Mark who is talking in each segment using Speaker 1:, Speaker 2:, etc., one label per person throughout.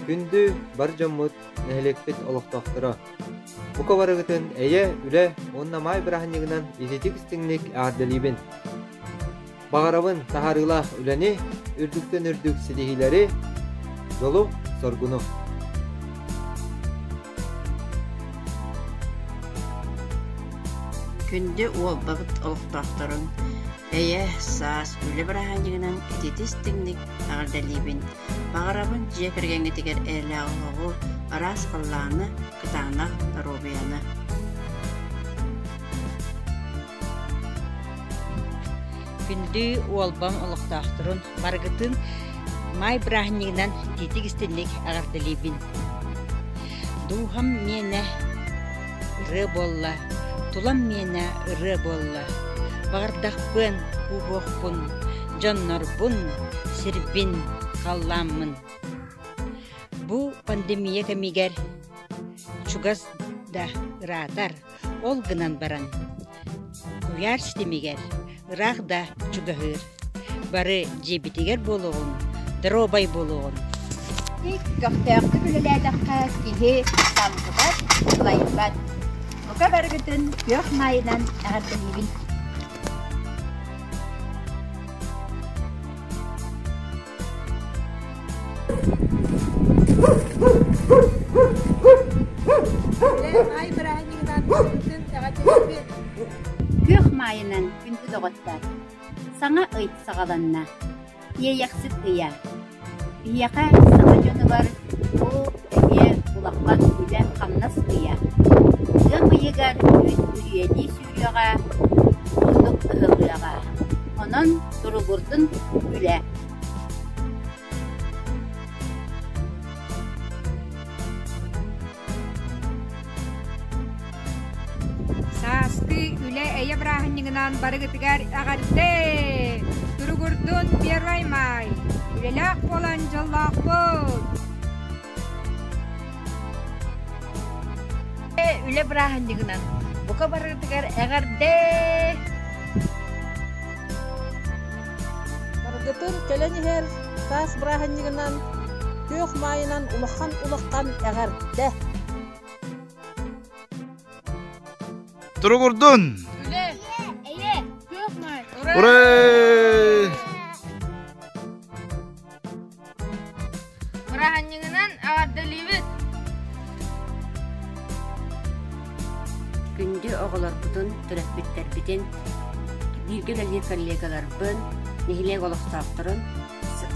Speaker 1: Күндү бар дьоммут, нэһилиэкпит олохтохторо. Бука барыгытын эйэ, үлэ уонна маай быраһынньыгынан ититик-истиҥник эҕэрдэлиибин! баҕарабын таһарыылаах үлэни, үрдүктэн үрдүк ситиһиилэри, дьолу, соргуну. Күндү уолбабыт олохтоохторун Эйэ, саас үлэ быраһаанньыгынан ититис-тиҥник эҕэрдэлиибин. Баҕарабын дьиэ кэргэҥҥитигэр эйэлээх оһоҕу, араас халлааны, кытаанах доруобуйаны. Күндү уолбам олохтоохторун барыгытын май бырааһынньыгынан титик-истинник аҕардалиибин. Дууһам миэнэ ырыа буолла, тулам миэнэ ырыа буолла. Баҕардахпын, куубуохпун, дьоннорбун, сирбин, халлааммын. Бу пандемия кэмигэр чугас да ыраатар, Ол гынан баран, куйаар ситимигэр ыраах да чугаһыыр. Бары дьиэбитигэр буолуоҕун, доруобай буолуоҕун. Ик көхтөөхтүк үлэлээтэххэ киһи самгыбат, сылайбат. Бука барыгытын күөх маайынан эҕэрдэлиибин. Күөх маайынан күндү доҕоттор, саҥа ый саҕаланна. Иэйэхсит ыйа. Биһиэхэ саҥа дьонугар ол эмиэ улаххан үлэ-хамнас ыйа. Ыам ыйыгар үрүйэлии үтүөҕэ, ордук ыһыллыаҕа. Онон туругурдун үлэ! Саастыы үлэ эйэ бырааһынньыгынан барыгытыгар эҕэрдэ! Туругурдун Первый Май! Үлэлээх буолан дьоллоохпут! Үлэ бырааһынньыгынан бука барыытыгар эҕэрдэ! Баргытын кэлэн иһэр таас бырааһынньыгынан күөх маайынан улахан-улахан эҕэрдэ! Туругурдун! Үлэ! Эйэ! Күөх маай! Ура! Ура! Быраһанньыгынан эҕэрдэлиибит! Күндү оҕолорбутун, төрөппүттэрбитин, бииргэ үлэлиир коллегаларбын, нэһилиэк олохтоохторун,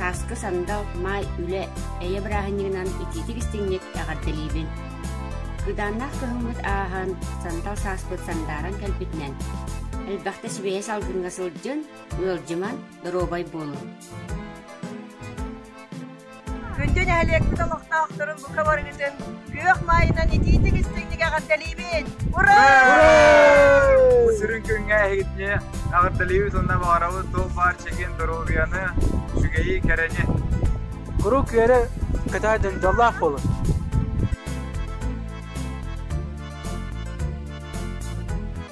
Speaker 1: Сааскы сандал, маай, үлэ, эйэ бырааһынньыгынан итиитик-истиҥник эҕэрдэлиибин. Кыыдааннаах кыһыммыт ааһан, сандал сааспыт сандааран кэлбитинэн, элбэхтэ сибэйэ салгыҥҥа сылдьын, Ыалдьыман, доруобай буолуҥ. Күндү нэһилиэкпит олохтоохторун бука барыгытын күөх маайынан итиитик истиҥник эҕэрдэлиибин! Ура! Ура! Бу сүрүн күҥҥэ эһигитини эҕэрдэлиибит уонна баҕарабыт тыл баар чэгиэн доруобуйаны, үчүгэйи, кэрэни. Куруук үөрэ, кытаа дьондоллоох буолун!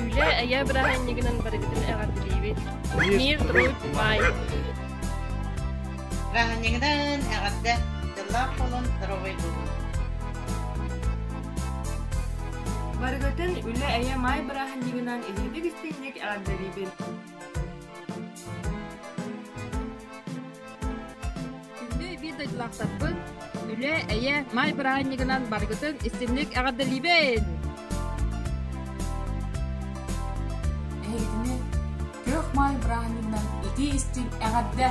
Speaker 1: Үлэ эйэ бырааһынньыгынан барыбытын эҕэрдэлиибит. Мир труд бай. Бырааһынньыгынан эҕэрдэ. Дьыллаах буолун, здоровый буолун. Барыгытын үлэ эйэ маай бырааһынньыгынан иһирдик истиҥник эҕэрдэлиибин. Күндү биир дойдулаахтарбын, үлэ, эйэ, маай бырааһынньыгынан барыгытын истиҥник эҕэрдэлиибин! Эһигини Күөх Маай бырааһынньыгынан итии истиҥ эҕэрдэ!